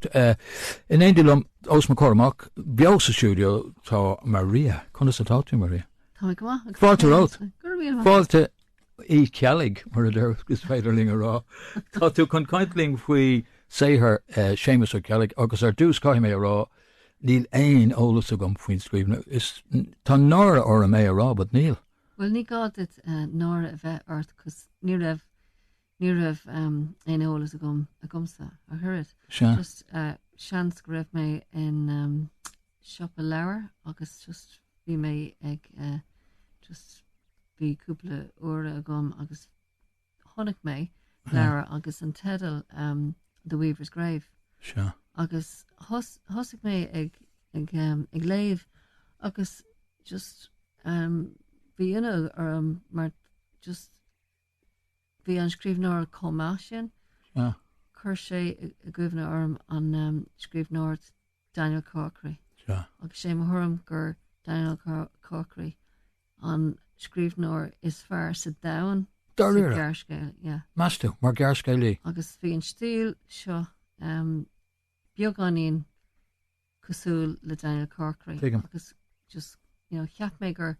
In éindí liom, Oz McCormack, beo sa stiúideo, tá Maria. Conas atá tú, Maria? Tá go maith. Fáilte romhat. Fáilte Uí Cheallaigh, mar a déarfá, is féidir linn a rá. Tá tú chun caint linn faoi saothar eh, Séamus Ó Ceallaigh agus ar dtús caithfidh mé a rá níl aon eolas agam faoin scríbhneoir. Tá náire orm é a rá, but níl. Bhuel, ní gá duit eh, náire a bheith ort cos ní raibh Ní raibh aon eolas agam agamsa ach oiread. Sea. Just seans go raibh mé in siopa leabhar agus just bhí mé ag just bhí cúpla uaire agam agus chonaic mé leabhar agus an teideal The Weaver's Grave. Sea. Agus thosaigh mé ag ag ag léamh agus just bhí ionadh orm mar just. Bhí an scríbhneoir chomh maith sin. Chuir sé i gcuimhne orm an scríbhneoir Daniel Corkery agus sé mo thuairim gur Daniel Corkery an scríbhneoir is fearr sa domhan sa ghearrscéal. Meas tú, mar ghearrscéalaí? Agus bhí an stíl seo beagáinín cosúil le Daniel Corkery agus just you know cheap mé gur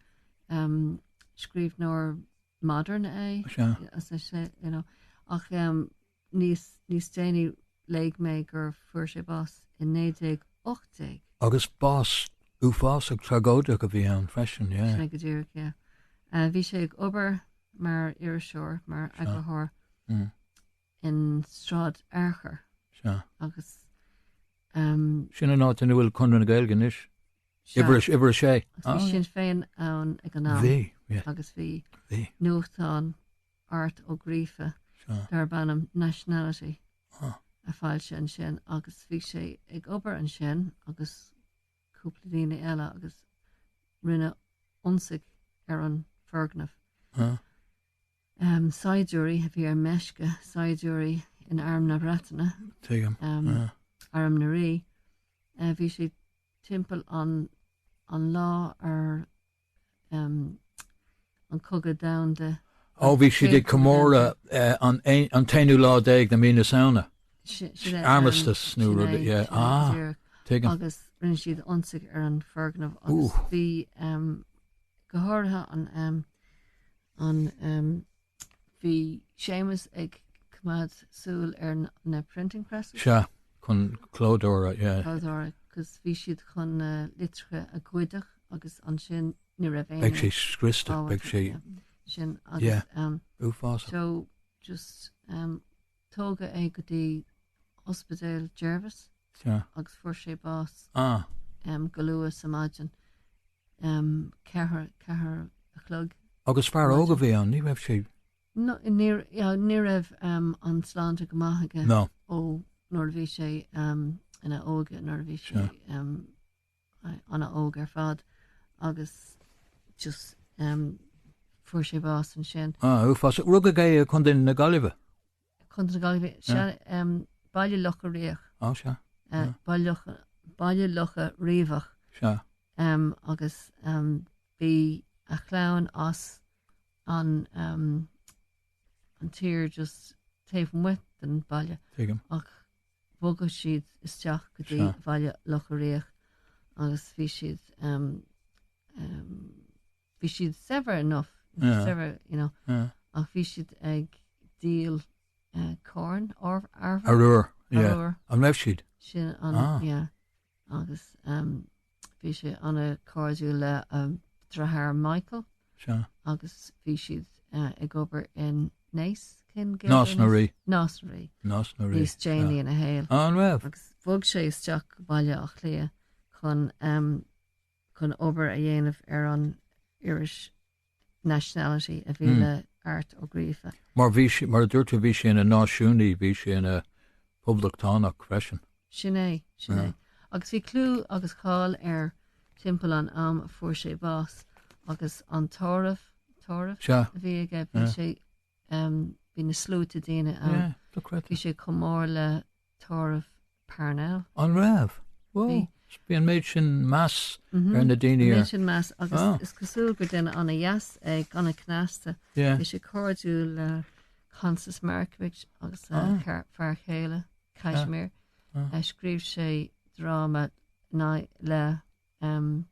um, scríbhneoir modern as I say you know, ach um, níos, níos déanaí léigh mé gur fuair sé bás in 1918. Agus bás uafásach tragóideach a bhí ann freisin, yeah. Sin go díreach, yeah. Uh, bhí sé ag obair mar iriseoir, mar eagarthóir mm. in Sráid Fhearchair. Sea. Agus. Sin an áit ina bhfuil Conradh na Gaeilge anois? Sea. Uimhir a, uimhir a sé. Agus bhí Ah, yeah. Sinn Féin ann ag an am. Bhí, yeah. Agus bhí Bhí. nuachtán Art Ó Gríofa Sea. darb ainm Nationality Ah. á fhoilsiú ansin agus bhí sé ag obair ansin agus cúpla daoine eile agus rinneadh ionsaí ar an foirgneamh. Ah. saighdiúirí a bhí ar meisce, saighdiúirí in arm na Breataine. Tuigim. Arm na Rí. Bhí siad timpeall an lá ar an Cogadh Domhanda. Ó, bhí siad ag comóradh an t-aonú lá déag de mhí na Samhna. Armistice nó rud, yeah. Ah, tuigim. Agus rinne siad ionsaí ar an foirgneamh agus bhí go háirithe an, An bhí Séamus ag coimeád súil ar na printing presses? Sea, chun clódóra, yeah. Clódóra, cos bhí siad chun na litreacha a ghoideach agus ansin ní raibh aon. Beidh sé scriosta, beidh sé. Sin agus uafásach. So just tógadh é go dtí ospidéal Jervis. Sea. agus fuair sé bás Ah. em, go luath sa maidin em, ceithre, ceathair a chlog. Agus fear óg a bhí ann, ní raibh sé No, ní, yeah, ní raibh em, an sláinte go maith aige ná. ó nuair a bhí sé em, ina óige nuair a bhí sé Sure. em, a- ana óg ar fad agus just em, fuair sé bás ansin. Ah, uafásach. Rugadh é i Contae na Gaillimhe. Contae na Gaillimhe, sea, Baile Locha Riach. Ó, sea. Baile Locha Riabhach. Sea. Agus bhí a chlann as an tír just taobh amuigh den baile. Tuigim. Ach bhogadh siad isteach go dtí Bhaile Locha Riach agus bhí siad. bhí siad saibhir enough, saibhir, you know, ach bhí siad ag díol corn arbhair. Arbhair, yeah. An raibh siad? Sin an, yeah. Agus bhí sé ana cairdiúil le a dheartháir Michael. Sea. Agus bhí siad ag obair in Naas, cén gé? Nás na Rí. Nás na Rí. Nás na Rí. Níos déanaí ina shaol. An raibh? Agus bhog sé isteach go Baile Átha Cliath chun chun obair a dhéanamh ar an iris Nationality a bhí le Art Ó Gríofa. Mar bhí sé, mar a dúirt tú, bhí sé ina náisiúnaí, bhí sé ina phoblachtánach freisin. Sin é, sin é. Agus bhí clú agus cáil air timpeall an am a fuair sé bás agus an tórramh, tórramh? Sea. a bhí aige, bhí sé, bhí na sluaite daoine ann. Yeah, dochreidte. Bhí sé chomh mór le tórramh Parnell. An raibh? Bhí. Wow. So bhí an méid sin meas ar na daoine Bhí air. sin meas agus Ah. is cosúil gur duine an-dheas é, agus ana cneasta. Yeah. Bhí sé cairdiúil le Constance Markievicz agus a Ah. char- fear chéile, Casimir. Ah. Eh, Scríobh sé drámanna le em,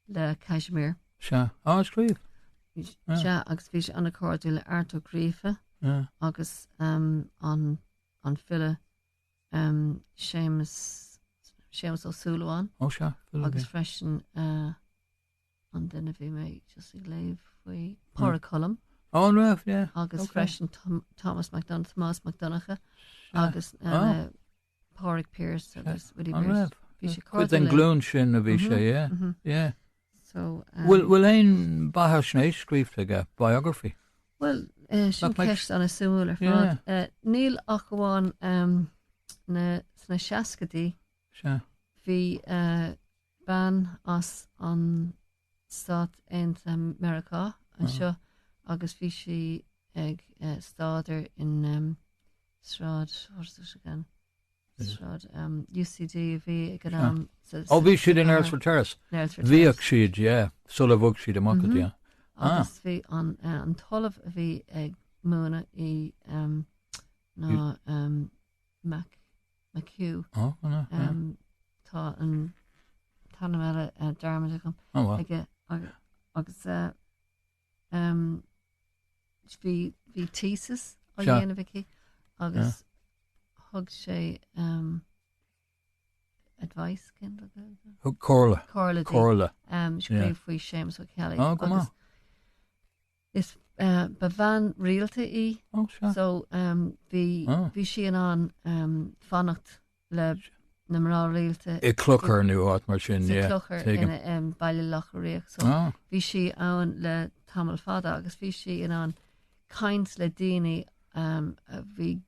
le Casimir. Sea. Ar scríobh. Bhí s- Ah. Sea, agus bhí sé an-chairdiúil le Art Ó Gríofa Ah. agus em, an an file Séamus, Séamus Ó Súilleabháin. Ó sea, file. Agus freisin uh, an duine bhí mé just ag léamh faoi Pádraic Colum. All right, yeah. Agus okay. freisin Tom, Thomas MacDonagh, Tomás MacDonagh agus uh, oh. Pádraic Pearse agus Willie Pearse. Bhí sé Cuid den glún sin a bhí sé, yeah. Mm-hmm. Yeah. An bhfuil aon bheathaisnéis scríofa aige, biography? Bhuel, sin ceist an-suimiúil ar fad. Níl ach amháin sna seascaidí bhí bean as na Stáit Aontaithe Meiriceá anseo agus bhí sí ag staidéar in Sráid UCD a bhí ag an am. Ó bhí siad in Earlsfort Terrace. Bhíodh siad, yeah, sular bhog siad amach go dtí. Agus bhí an an t-ollamh a bhí ag múineadh í ná Mac McHugh. Ó na. Tá an t-ainm eile dearmadta agam. Ó wow. Agus Um, bhí, bhí thesis á dhéanamh aici agus thug sé um, advice cad é an Ghaeilge? Thug comhairle. Comhairle di. Comhairle. um, scríobh faoi Séamus Ó Ceallaigh. Ah, go maith. agus Is uh, ba bhean rialta í, Ó, seo. so um, bhí, Ah. bhí sí in ann um, fanacht le na mná rialta. I gclochar nó áit mar sin. Sa clochar i mBaile Locha Riach. So bhí sí ann le tamall fada agus bhí sí in ann caint le daoine um, a bhí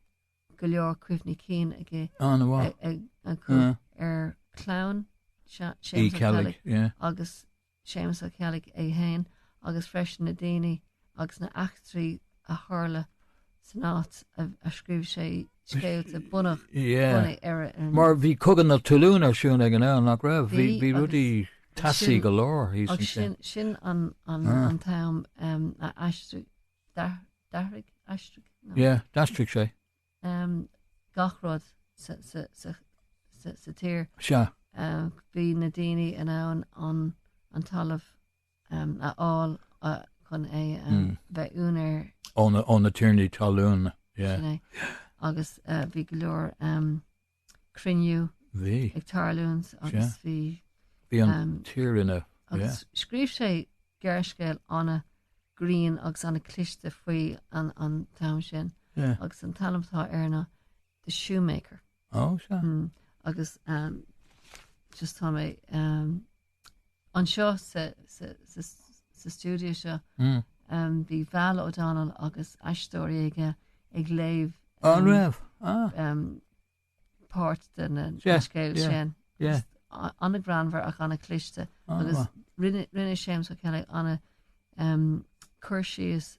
go leor cuimhní cinn acu ar clann Séamus Kelly agus Séamus Ó Ceallaigh é féin agus freisin na daoine agus na heachtraí a tharla san áit a scríobh sé scéalta bunaithe bunaithe orthu. Mar bhí Cogadh na Talún ar siúl ag an am, nach raibh? Bhí bhí rudaí teasaí go leor thíos ansin. Sin sin an an an t-am a aistrigh d'athraigh, aistrigh? Yeah, d'aistrigh sé. gach rud sa tír. Sea. Bhí na daoine in ann an talamh a fháil chun é a bheith ina úinéir. Ó na tiarnaí talún. Sin é. Agus bhí go leor. cruinniú ag tarlúint agus bhí bhí an um, tír ina agus yeah. scríobh sé gearrscéal an-ghrinn agus an-chliste faoi an, an t-am sin yeah. agus an t-ainm atá air ná The Shoemaker mm, agus um, just tá mé um, anseo sa stiúideo seo bhí Val O'Donnell agus aisteoirí óga ag léamh. An raibh? páirt den scéal sin. an-ghreannmhar ach an-chliste agus rinne Séamus Ó Ceallaigh an-chur síos.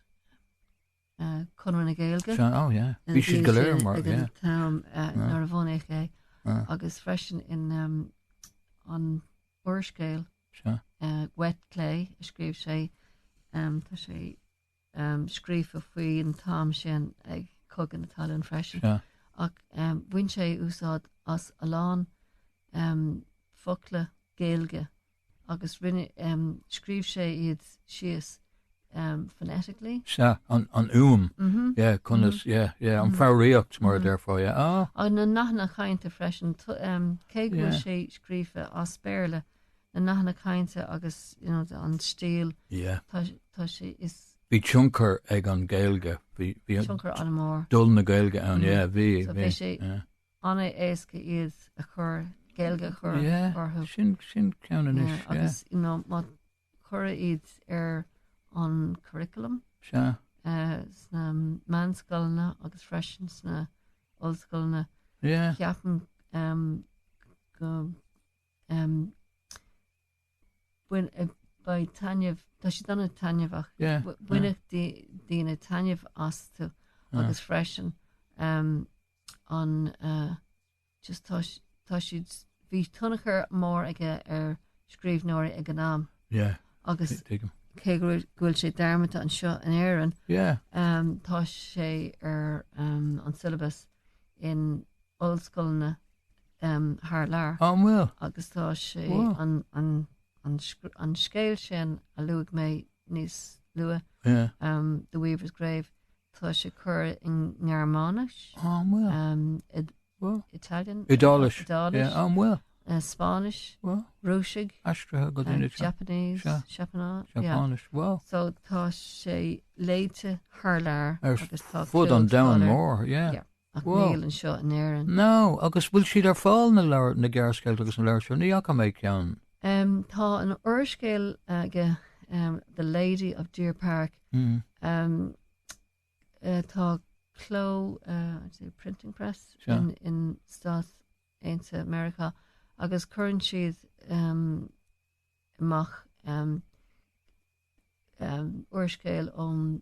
Conradh na Gaeilge. Sea, oh yeah. Bhí siad go léir ag an t-am uh, Ah. nuair a bhunaíodh é Ah. agus freisin in um, an úrscéal Sea. uh, Wet Clay a scríobh sé um, tá sé um, scríofa faoi an t-am sin ag Cogadh na Talún freisin Sea. ach um, bhain sé úsáid as a lán um, focla Gaeilge agus rinne, scríobh sé iad síos phonetically. Sea, an, an fhuaim, yeah, conas, yeah, yeah, an fhoghraíocht mar a déarfá, yeah, ah. Agus na nathanna cainte freisin, cé go bhfuil sé scríofa as Béarla, na nathanna cainte agus, you know, an stíl, tá sé, is. Bhí tionchar ag an Ghaeilge, bhí, bhí. Tionchar an-mhór. Dul na Gaeilge ann, yeah, bhí, bhí. So bhí sé, An é éasca iad a chur, Gaeilge a chur orthu? Yeah, sin ceann anois, yeah. Agus, you know, má cuireadh iad ar an curriculum sna meánscoileanna agus freisin sna ollscoileanna, ceapaim go mbeidh taitneamh, tá siad an-taitneamhach, bainfeadh daoine taitneamh astu agus freisin. an just tá siad bhí tionchar mór aige ar scríbhneoirí ag an am yeah agus cé go bhfuil sé dearmadta anseo in Éirinn yeah um, tá sé ar um, an syllabus in ollscoileanna um, thar lear oh, well. agus tá sé wow. an, an, an, an scéal sin a luaigh mé níos luaithe yeah. um, The Weaver's Grave Tá sé curtha i nGearmáinis, Italian, Iodáilis, Spáinnis, Rúisis, Japanese, Seapáinis. So tá sé léite thar lear ar fud an domhain mhóir. Ach níl anseo in Éirinn. No, agus bhfuil siad ar fáil na leabhair, na gearrscéalta agus na leabhair seo? Ní fhaca mé ceann. Em, tá an úrscéal aige, em, The Lady of Deer Park, em, eh, tá cló, eh, I'd say printing press Sure. in, in Stáit Aontaithe America agus cuireann siad, em, amach, em, em, úrscéal ón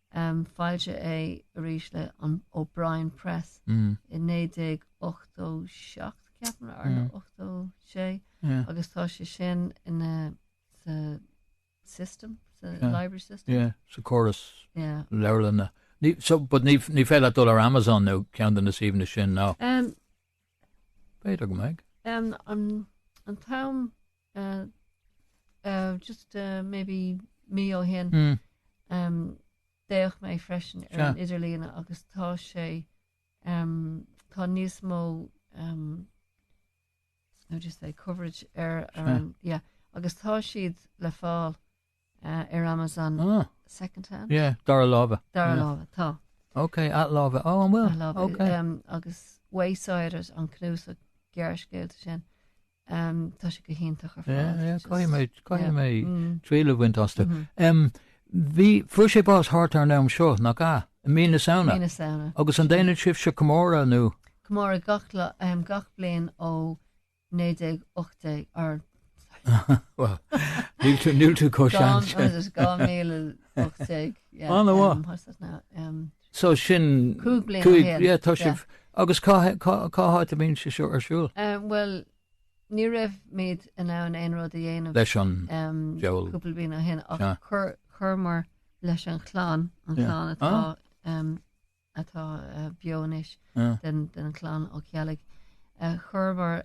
Foilsíodh é arís le O'Brien Press i 1987, ceapaim, ar nó 86, agus tá sé sin in, sa system, sa library system. Yeah, sa córas leabharlainne. Ní, so, but ní, ní féidir leat dul ar Amazon nó ceann de na suíomhanna sin, ná? B'fhéidir go mbeidh. Um, um, an t-am, uh, uh, just uh, maybe mí ó shin, mm. um, d'fhéach mé freisin ar an idirlína agus tá sé um, tá níos mó um, how do you say coverage ar, ar an, yeah, agus tá siad le fáil Ar Amazon second hand? Yeah. Dara láimhe. Dara láimhe, tá. Ok, athláimhe. Oh, an bhfuil? Athláimhe. Ok. Agus Waysiders, an cnuasach gearrscéalta sin, tá sé go hiontach ar fad. Yeah, yeah, caithfidh mé, caithfidh mé triail a bhaint astu. Bhí, fuair sé bás thart ar an am seo, nach ea? I mí na Samhna. Mí na Samhna. Agus an déanann sibhse comóradh nó? Comóradh gach bliain ó 1918. Níl tú chomh sean sin. Dhá mhíle ocht déag yeah. An bhfuil? Um what's it now um So sin cúig bliain ó shin. Yeah tá sibh agus cá háit a bhíonn sé seo ar siúl? Um bhuel ní raibhimid in ann aon rud a dhéanamh leis an diabhal cúpla bliain ó shin ach chuir chuireamar leis an chlann an chlann atá um atá beo anois den chlann Ó Ceallaigh. Chuireamar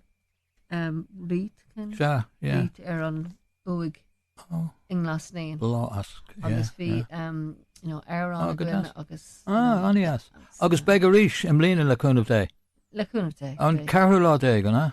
wreath ar an uaigh i nGlas Naíon. Lá as. Agus bhí amhrán againn agus. An é as? Agus beidh arís i mbliana le cúnamh Dé? Le cúnamh Dé. An ceathrú lá déag, an ea?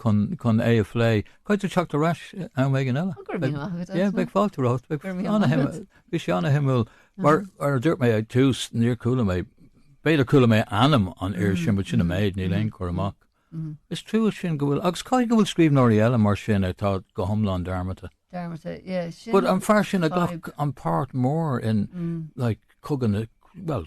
chun é a phlé. Caithfidh tú teacht ar ais am éigin eile. Ó, go raibh míle maith agat, Áine. Beidh fáilte romhat. Go raibh míle maith agat. Bhí sé an-shuimiúil. Mar a dúirt mé ag tús, níor chuala mé, b'fhéidir chuala mé ainm an fhir sin, but sin an méid, níl aon cur amach. Is trua sin go bhfuil, agus caithfidh go bhfuil scríbhneoirí eile mar sin atá go hiomlán dearmadta. Dearmadta, yeah, sin an. But an fear sin a ghlac an páirt mór in, like, Cogadh na, well,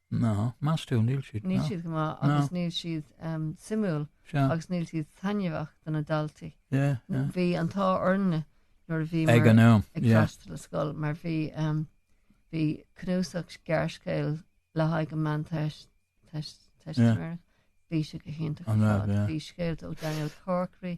Ná, meas tú, níl siad. Níl siad go maith agus níl siad suimiúil agus níl siad taitneamhach do na daltaí. Bhí an t-ádh orainne nuair a bhí muid ag freastal ar scoil mar bhí bhí cnuasach gearrscéal le haghaidh an mheán teist, Teistiméireacht, bhí sé go hiontach. Bhí scéalta ó Daniel Corkery,